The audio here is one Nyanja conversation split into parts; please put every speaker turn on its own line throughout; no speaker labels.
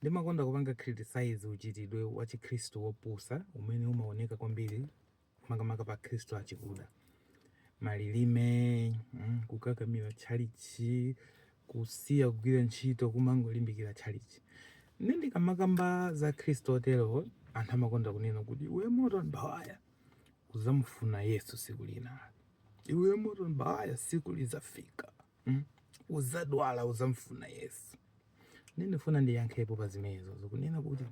Ndimakonda kupanga criticize uchitidwe wa chikhristu wopusa umene umaoneka kwambiri makamaka pa akhristu achikuda. Malilime, mm, kukakamira tchalitchi, kusiya kugwira ntchito, kumangolimbikira tchalitchi. Nde ndikamakamba za akhristu otero, anthu amakonda kunena kuti iwe Morton Bawaya uzamufuna Yesu siku lina. Iwe Morton Bawaya siku lizafika. mm? uzadwala uzamfuna yesu nde ndifuna ndiyankhepo pa zimenezo zokunena kuti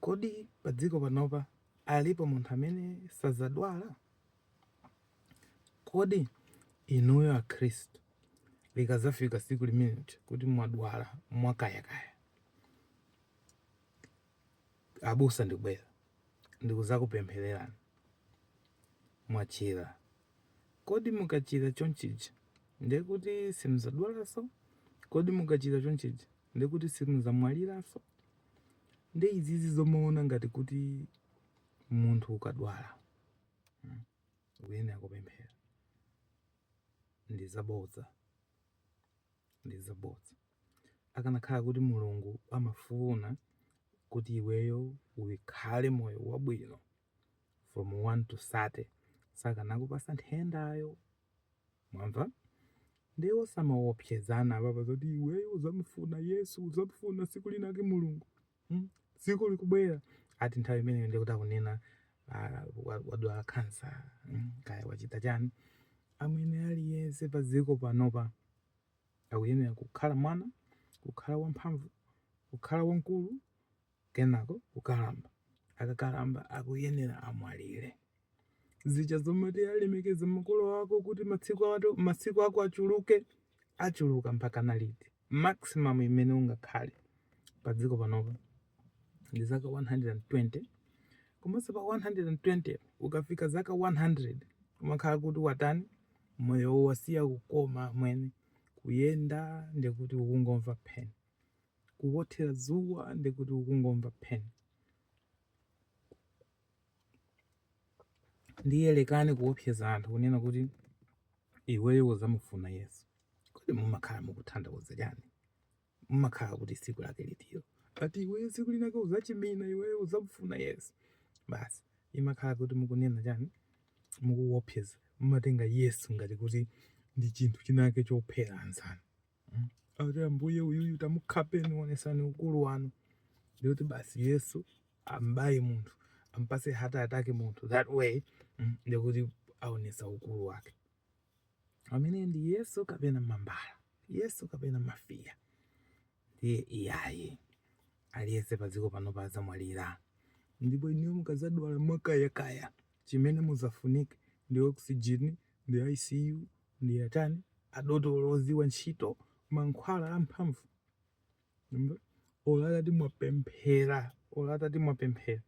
kodi pa dziko panopa alipo munthu amene sazadwala kodi inuyo akhristu likazafika siku limeneli kuti mwadwala mwakayakaya abusa ndikubwera ndikuzakupemphererani mwachira Kodi mukachira chonchija ndiye kuti simuzadwalanso? Kodi mukachira chonchija ndiye kuti simuzamwaliranso? Ndi izizi zomaona ngati kuti munthu ukadwala hmm, ukuyenera kupemphera ndi zabodza, ndi zabodza. Akanakhala kuti Mulungu amafuna kuti iweyo ukhale moyo wabwino from 1 to 30 sakanakupasa nthendayo mwamva ndiye osamaopsezana apapa zoti iweyo uzamufuna yesu uzamufuna siku linake mulungu mm? tsiku likubwera ati nthawi imeneyo ndikuti akunena ah, wa- wadwala kansa mm? kaya wachita chani amwene aliyense pa dziko panopa akuyenera kukhala mwana kukhala wamphamvu kukhala wamkulu kenako kukalamba akakalamba akuyenera amwalire zija zomati lemekeza makolo ako kuti matsiku ato masiku ako achuluke achuluka mpaka liti maximum imene ungakhale pa dziko panopa ndi zaka 120 komanso pa 120 ukafika zaka 100 umakhala kuti watani moyo wasiya kukoma amwene kuyenda ndikuti ukungomva pain kuwothera dzuwa ndi kuti ukungomva pain ndiye lekani kuopseza anthu kunena kuti iweyo uzamufuna yesu kodi mumakhala mukutanthauza chani mumakhala kuti siku lake litiro ati iweyo siku linake uzachimina iweyo uzamufuna yesu basi imakhala kuti mukunena chani mukuopseza mumatenga yesu ngati kuti ndi chinthu chinake chophera anzanu Ati ambuye uyuyu tamukhapeni wonesani ukulu wanu. Ndikuti basi Yesu ambaye munthu ampase heart attack munthu that way mm, ndikuti aonesa ukulu wake amene ndi Yesu kapena mambala Yesu kapena mafiya ndiye iyayi aliyese padziko panopa azamwalira ndipo inuyo mukazadwala mwakayakaya chimene muzafunike ndi oxygen ndi ICU ndi a chani? Adotolo odziwa ntchito, mankhwala amphamvu. Mumve? Olo atati mwapemphera, olo atati mwapemphera,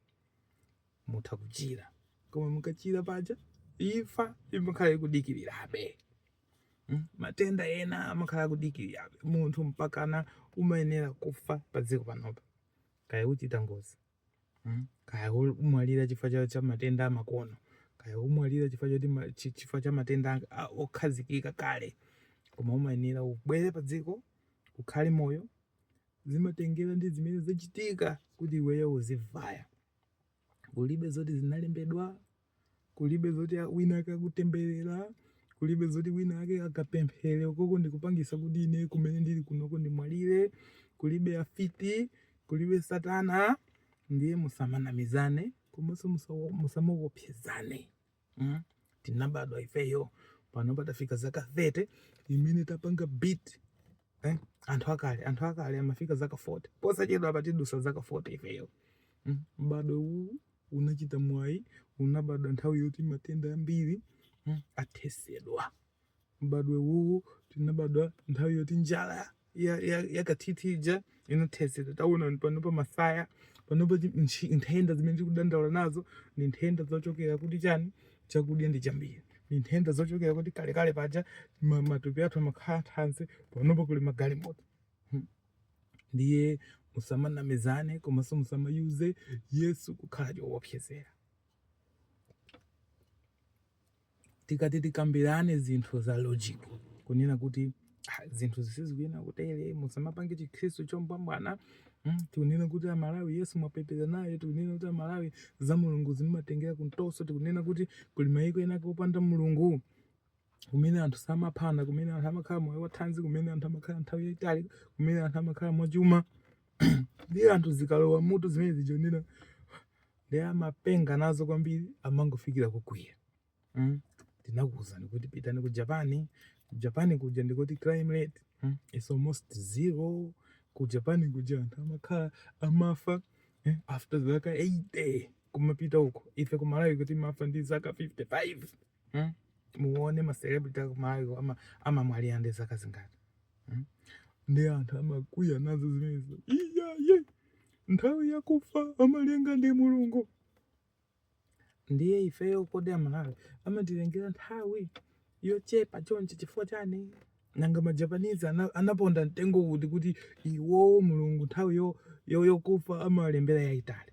mutha kuchira. Koma mukachira paja, imfa imakhala ikudikirirabe. Mm? Matenda ena amakhala akudikirirabe. Munthu mpakana umayenera kufa pa dziko panopa. Kaya uchita ngozi, mm? kaya umwalira chifukwa cha matenda amakono kaya kumwalira chifukwa chifukwa cha matenda okhazikika kale koma umayenera ubwere pa dziko ukhale moyo zimatengera ndi zimene zachitika kuti iweyo uzivaya kulibe zoti zinalembedwa Kulibe zoti wina ake akutemberera, kulibe zoti wina ake akapemphere ukoko ndikupangisa kuti ine kumene ndili kunoko ndimwalire, kulibe afiti, kulibe satana, ndiye musamanamizane komanso musawo- musamaopsezane mm? tinabadwa ifeyo pano patafika zaka 30 imene tapanga beat eh? anthu akale anthu akale amafika zaka 40 posachedwapa tidusa zaka 40 ifeyo mm? mbadwo uwu unachita mwayi unabadwa nthawi yoti matenda ambiri mm? athesedwa mbadwo uwu tinabadwa nthawi yoti njala yakathithi ija inathetsedwa taonani panopa masaya panopa chi- nchi- nthenda zimene tikudandaula nazo ndi nthenda zochokera kuti chani chakudya ndi chambiri ndi nthenda zochokera kuti kalekale paja ma- matupi athu amakhala thanzi panopa kuli magalimoto ndiye musamanamizane komanso musamayuze yesu kukhala choopsezera tikati tikambirane zinthu za logic kunena kuti ah, zinthu zisizikuyenera kutere musamapange chikhristu chombwambwana mm, tikunena kuti amalawi yesu mwapepera naye tikunena kuti amalawi za mulungu zimatengera kumtoso tikunena kuti kuli mayiko ena kopanda mulungu kumene anthu samaphana kumene anthu amakhala moyo wathanzi kumene anthu amakhala nthawi yayitali kumene anthu amakhala mwachuma ndiye anthu zikalowa mutu zimenezi Jonera ndiye amapenga nazo kwambiri amangofikira kukwiya mm? ndinakuwuzani kuti pitani ku japan ku japan kuja ndikuti crime rate mm? is almost zero ku japan kuja anthu amakhala amafa eh? after zaka 80 kumapita uko ife kumalawi kuno timafa ndi zaka 55 mm? muone ma celebrity aku Malawi amamwalira ndi zaka zingati mm? ndi anthu amakwiya nazo zimenezo iyaye nthawi yakufa amalemba ndi mulungu ndiye ifeyo kodi Amalawi amatilembera nthawi yochepa chonchi chifukwa chani Nanga ma Japanese ana, anaponda mtengo kuti kuti iwowo mulungu nthawi yo yo yokufa amalembera yaitali.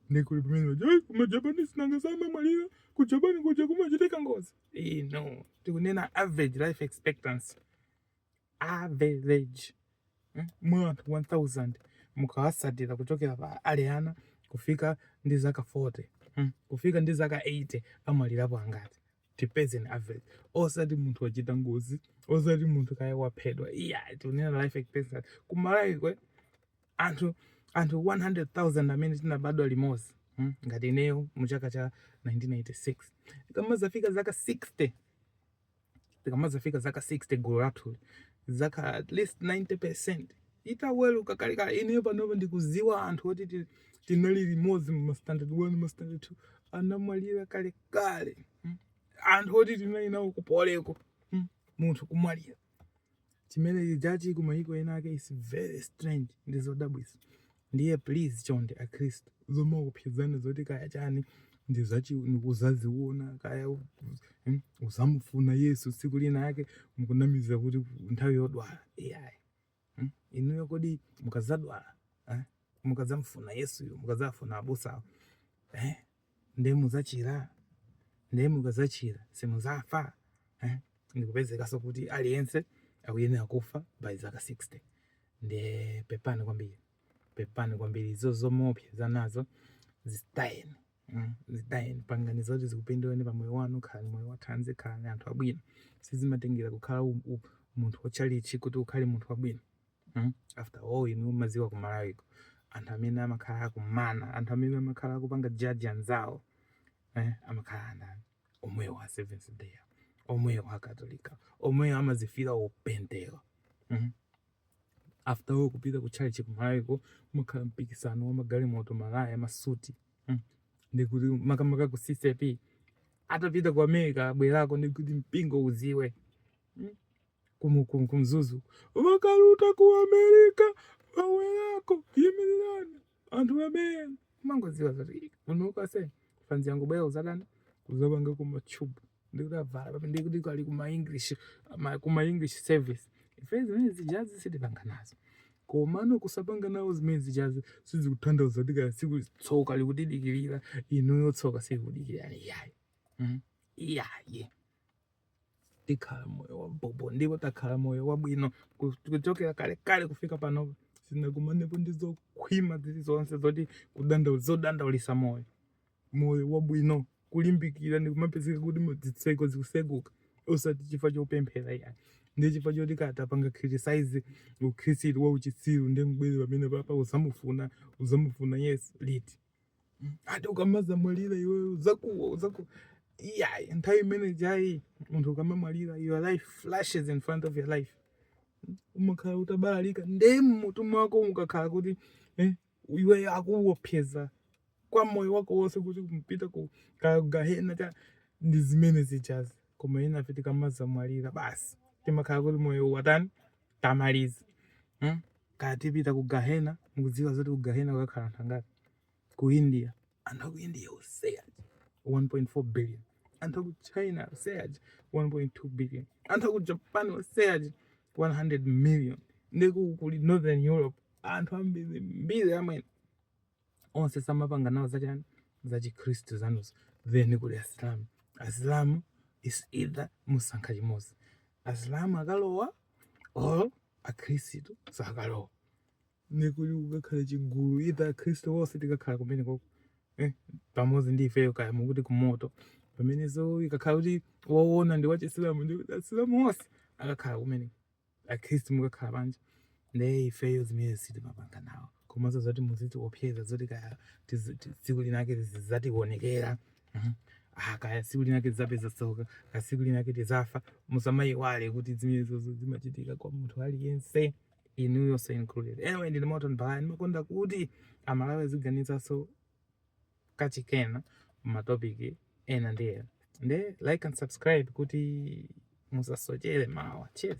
Ndikuli pamene ma Japanese nanga samamwalira ku Japan kuja kumachitika ngozi. Eh no, tikunena average life expectancy. Average. Hmm? Mwa anthu 1000 mukawasatira kuchokera pa ali ana kufika ndi zaka 40. Hmm? Kufika ndi zaka 80 amwalirapo angati. tipeze an average osati munthu wachita ngozi osati munthu kaya waphedwa iya tikunena life expectancy ku Malawi kwa anthu anthu 100000 amene tinabadwa limodzi hmm? ngati ineyo mu chaka cha 1986 tikamazafika zaka 60 tikamazafika zaka 60 gulu lathuli za at least 90 percent itaweruka kalekale ineyo panopa ndikuziwa anthu oti ti- tinali limodzi mu standard 1 mu standard 2 anamwalira kale kale mm, anthu oti tinali nawo ku Poly-ko mm, munthu kumwalira chimene chijachi kumayiko ena ake is very strange ndi zodabwisa ndiye please chonde akhristu zomaopsezana zoti kaya chani uzazi- ndikuzaziona kaya u- mm, uzamufuna yesu tsiku lina ake mukunamiza kuti nthawi yodwala iyayi Hmm? Inuyo kodi mukazadwala eh? mukazamfuna Yesuyo mukazafuna abusawo eh? nde muzachira nde mukazachira simuzafa eh? ndikupezekanso kuti aliyense akuyenera kufa by zaka 60 nde pepani kwambiri pepani kwambiri izo zomaopsezanazo zitayeni Zitayeni, pangani zoti zikupinduleni pa moyo wanu, khalani moyo wathanzi, khalani anthu abwino. Sizimatengera kukhala munthu wa tchalitchi kuti ukhale munthu wabwino. Hmm? After all inu mumadziwa ku Malawi anthu amene amakhala akunama, anthu amene amakhala akupanga judge anzawo eh, amakhala a ndani? Omwewo a Seventh Day, omwewo a Katolika, omwewo amazifila opembeza. Hmm? after all kupita ku tchalitchi ku Malawiko amakhala mpikisano wa magalimoto malaya masuti hmm. ndikuti makamaka ku CCAP atapita ku america abwerako ndikuti mpingo uziwe hmm. ku Mzuzu wakaluta ku america wawelako yimirirani anthu amene kumangodziwa zoti unoka se fanzi yangu bwera uzatani kuzapanga kuma tube ndikuti tavala papi ndikuti kaya kuma english ma- kuma english service ife zimene zijazi sitipanga nazo komano kusapanga nawo zimene zijazi sizikutanthauza kuti kaya tsiku tsoka likutidikirira inuyo tsoka silikudikirirani iyayi Mm. iyayi tikhala moyo wa bobo ndipo takhala moyo wabwino ku- kuchokera kalekale kufika pano sinakumanepo ndi zokhwima zili zonse zoti kudanda- zodandaulisa moyo moyo wabwino kulimbikira ndi kumapezeka kuti mu- zitseko zikuseguka osati chifukwa chopemphera iyayi ndi chifukwa choti tikatapanga criticize ukhristu wa uchitsiru ndi mbwezi pamene papa uzamufuna uzamufuna yesu liti ati ukamazamwalira iwe uzakuwa uzakuwa iyayi nthawi imene ijayi munthu ukamamwalira your life flashes in front of your life umakhala utabalalika nde mmutu mwako ukakhala kuti eh, iwe akuwopseza kwa moyo wako wonse kuti kumpita ku ka- gahena cha ndi zimene zijazi koma enafe tikamazamwalira basi timakhala kuti moyo watani tamaliza hmm? kaya tipita ku gahena mukudziwa zoti ku gahena kukakhala anthu angati ku india anthu aku india onse aja 1.4 billion anthu aku china onse aja 1.2 billion anthu aku japan onse aja 100 million ndi uku kuli northern europe anthu ambirimbiri amene onse samapanga nawo zachani zachikhristu zanuzo then kuli asilamu asilamu is either musankha chimodzi asilamu akalowa or akhristu sakalowa ndekuti kukakhala chigulu itha akhristu onse tikakhala kumenekoko eh, pamodzi ndi ifeyo kaya mukuti kumoto pamenepo ikakhala kuti wowona ndi wachisilamu ndi asilamu onse akakhala kumene akhristu mukakhala panja ndiye ifeyo zimenezo sitimapanga nawo komanso zoti muzitiopseza zoti kaya tizi- ti- tsiku linake zizatiwonekera Mhm. Ah, kaya tsiku linake tizapeza tsoka kaya tsiku linake tizafa musamayiwale kuti zimenezozo zimachitika kwa munthu aliyense inuyonso included anyway ndine moton bala ndimakonda kuti amalawi aziganizanso kachiwiri pa matopic ena ndi ena nde like and subscribe kuti musasochere mawa cheers